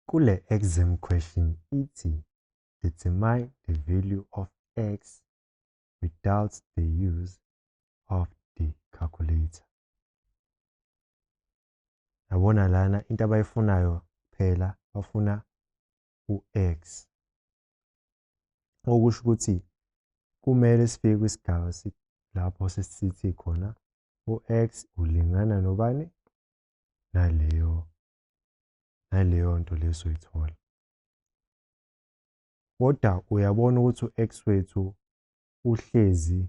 Kule exam question ithi determine the value of x without the use of the calculator. Yabona lana into abayifunayo phela bafuna u-x okusho ukuthi kumele sifike kwisigaba lapho sesithi khona u-x ulingana nobani naleyo naleyo nto leso ithola kodwa uyabona ukuthi u-x wethu uhlezi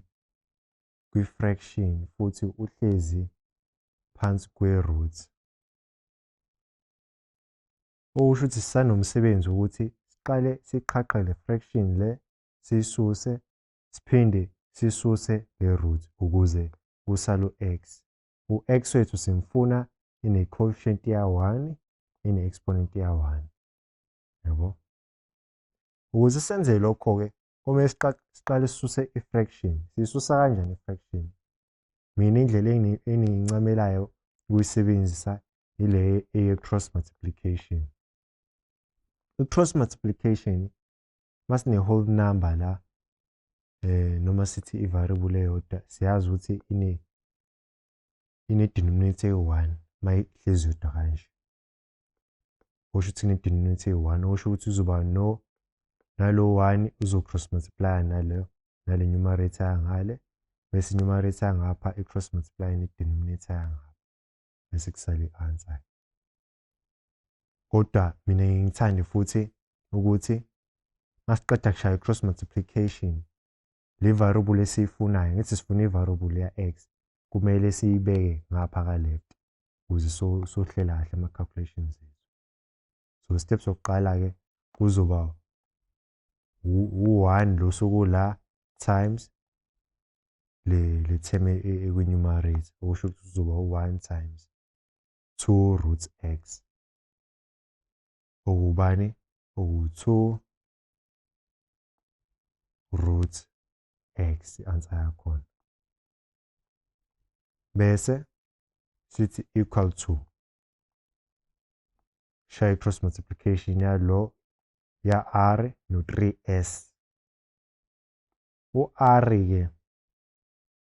kwi-fraction futhi uhlezi phansi kwe-root okusho ukuthi sisanomsebenzi ukuthi siqale siqhaqhe le fraction le siyisuse siphinde sisuse le root ukuze kusale u-x u-x wethu simfuna ine-coefficient ya-1 ine-exponent ya-1 yabo ukuze senze lokho-ke komele siqale sisuse i-fraction siyisusa kanjani i-fraction mina indlela engiyincamelayo ukuyisebenzisa ile eye-cross multiplication i-cross multiplication masine whole number la eh noma sithi i variable eyodwa siyazi ukuthi ine ine denominator eyi-1 mayihlezi yodwa kanje kusho ukuthi ine denominator eyi-1 okusho ukuthi uzoba no nalo 1 uzo cross multiply nalo nale numerator yangale bese numerator yangapha i cross multiply ne denominator yangapha bese kusale i answer kodwa mina ngithande futhi ukuthi masiqeda kushaya i-cross multiplication le variable esiyifunayo ngithi sifuna i-variable ya-x kumele siyibeke ngapha ka-left ukuze sohlela kahle ama-calculations ethu so step sokuqala-ke kuzoba u-one lo suku la times le le term ekwi-numerator okusho ukuthi kuzoba u-one times 2 root x okubani oku-2 root x i-answer yakhona bese sithi equal to shaya i-cross multiplication yalo ya-r no-3s u-r-ke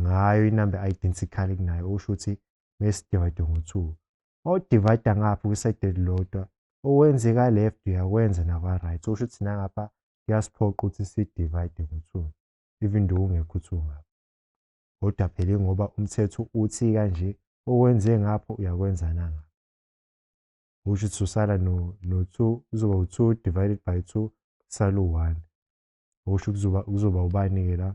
ngayo inamba identical kunayo usho ukuthi bese divide ngo 2 mawudivide ngapha kwiside elilodwa okwenzeka left uyakwenza nakwa right usho ukuthi nangapha kuyasiphoqa ukuthi si divide ngo 2 even though ungekho 2 ngapha kodwa phela ngoba umthetho uthi kanje okwenze ngapho uyakwenza nanga usho ukuthi usala no no 2 uzoba u2 divided by 2 sala u1 usho kuzoba kuzoba ubani ke la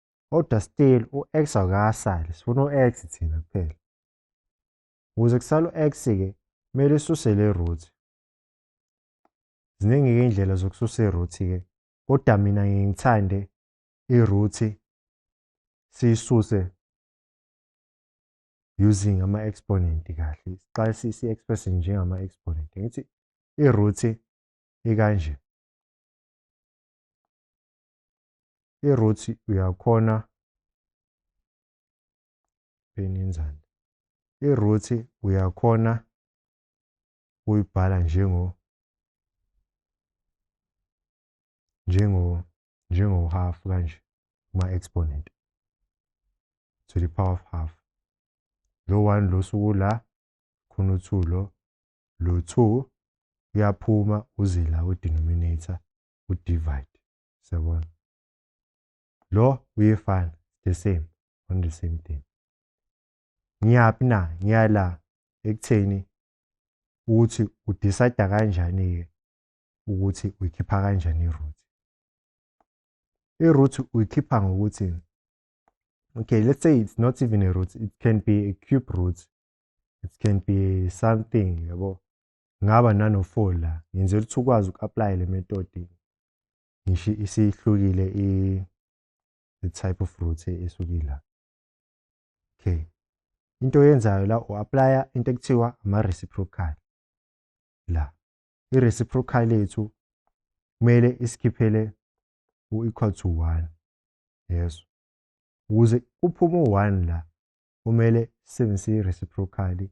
kodwa still u-x akasali sifuna u-x thina kuphela ukuze kusala u-x-ke kumele isuse le root ziningi-ke iy'ndlela zokususa i-root-ke kodwa mina ngiye ngithande i-root siyisuse using ama-exponent kahle siqale si-express njengama-exponent ngithi i-root ikanje iruthi uyakhona benenzani iruthi uyakhona ukuyibhala njengo njengo njengo half kanje kuma exponent to the power of half lo 1 lo suku la khona u2 lo lo 2 uyaphuma uzila u denominator u divide Siyabona. Lo uyefana the same on the same thing. Ngiyaphi na ngiyala ekutheni ukuthi udecide kanjani ke ukuthi uyikhipha kanjani iroot. Iroot uyikhipha ngokuthi okay let's say it's not even a root it can be a cube root it can be something yabo ngaba nano four la ngenzela ukuthi ukwazi uku-aplaya le metodi ngisho isihlukile i type of root esukila okay into oyenzayo la u-aplaya into ekuthiwa ama-reciprocal la i-reciprocal yethu kumele isikhiphele u-equal to one yeso ukuze kuphume u-one la kumele sisebenzise i-reciprocally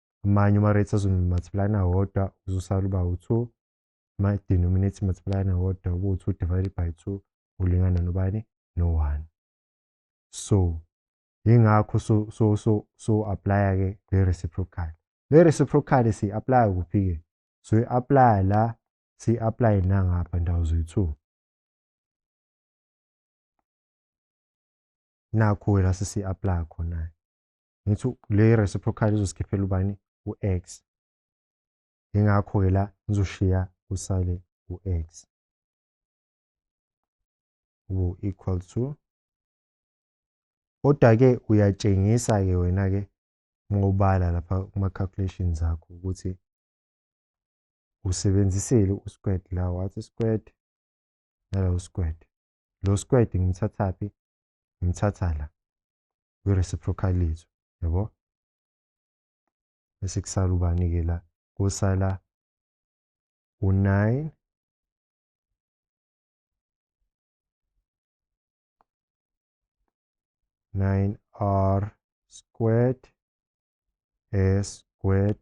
amanye uma-rates azomultiply nawodwa uzosala uba u-two ama-denominate multiply nawodwa ube u-two divided by two ulingana nobani no-one so yingakho so so so so aplaya ke le reciprocal le reciprocal si aplaya kuphi ke so i aplaya la si aplaya nangapha ndawo zoyi-two nakho wena sisi-aplaya khona-ke ngithi le reciprocal izosikhiphela ubani u-x ingakho-ke la ngizoshiya kusale u-x ube equal to kodwa-ke uyatshengisa-ke wena-ke uma ubala lapha kuma-calculations akho ukuthi usebenzisile u-squared la wathi squared nala u-squared lo squad ngimthathaphi ngimthatha la we reciprocalism yabo bese kusala ubani ke la kusala u9 9r squared s squared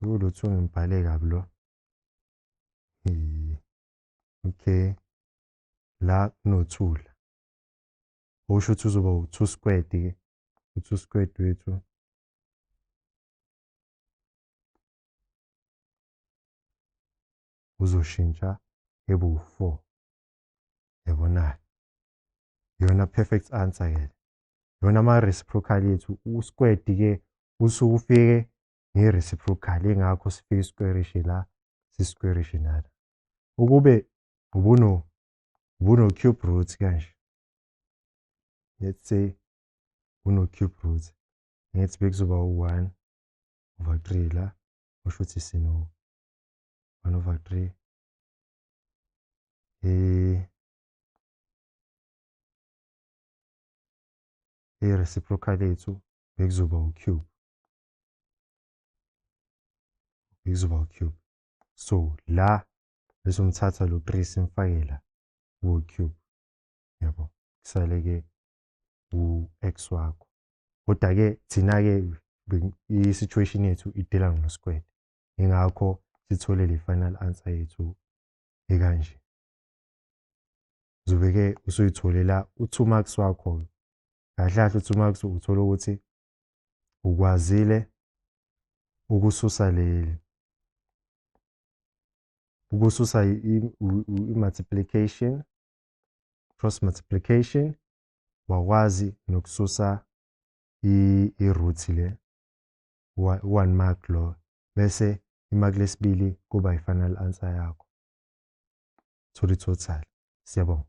Lutho ngibhale kabi lo. Hi. Okay. La kunothula. Usho ukuthi uzoba u2 squared ke. U2 squared wethu. Uzoshintsha ebe u4. Yabona. Yona perfect answer ke. Yona ama reciprocal yethu u squared ke usuke ufike nge-reciprocal ingakho sifika isikwerishe la sisikwerishe nala ukube ubuno ubuno cube root kanje let's say uno cube root ngithi bekuzoba u-1 over 3 la usho ukuthi sino 1 over 3 eh i-reciprocal yethu bekuzoba u-cube izoba u-cube so la bese ngithatha lo 3 simfake la ku-cube yabo kusale-ke u-x wakho kodwa-ke thina-ke i-situation yethu idela ngosikwele ingakho sithole le final answer yethu ekanje zobe-ke usuyitholela u-two marks wakho-ke kahle kahle u-two marks uthola ukuthi ukwazile ukususa leli ukususa i-multiplication cross multiplication wakwazi nokususa i-root le one mark lo bese imaki lesibili kuba i-final answer yakho thola i-total siyabonga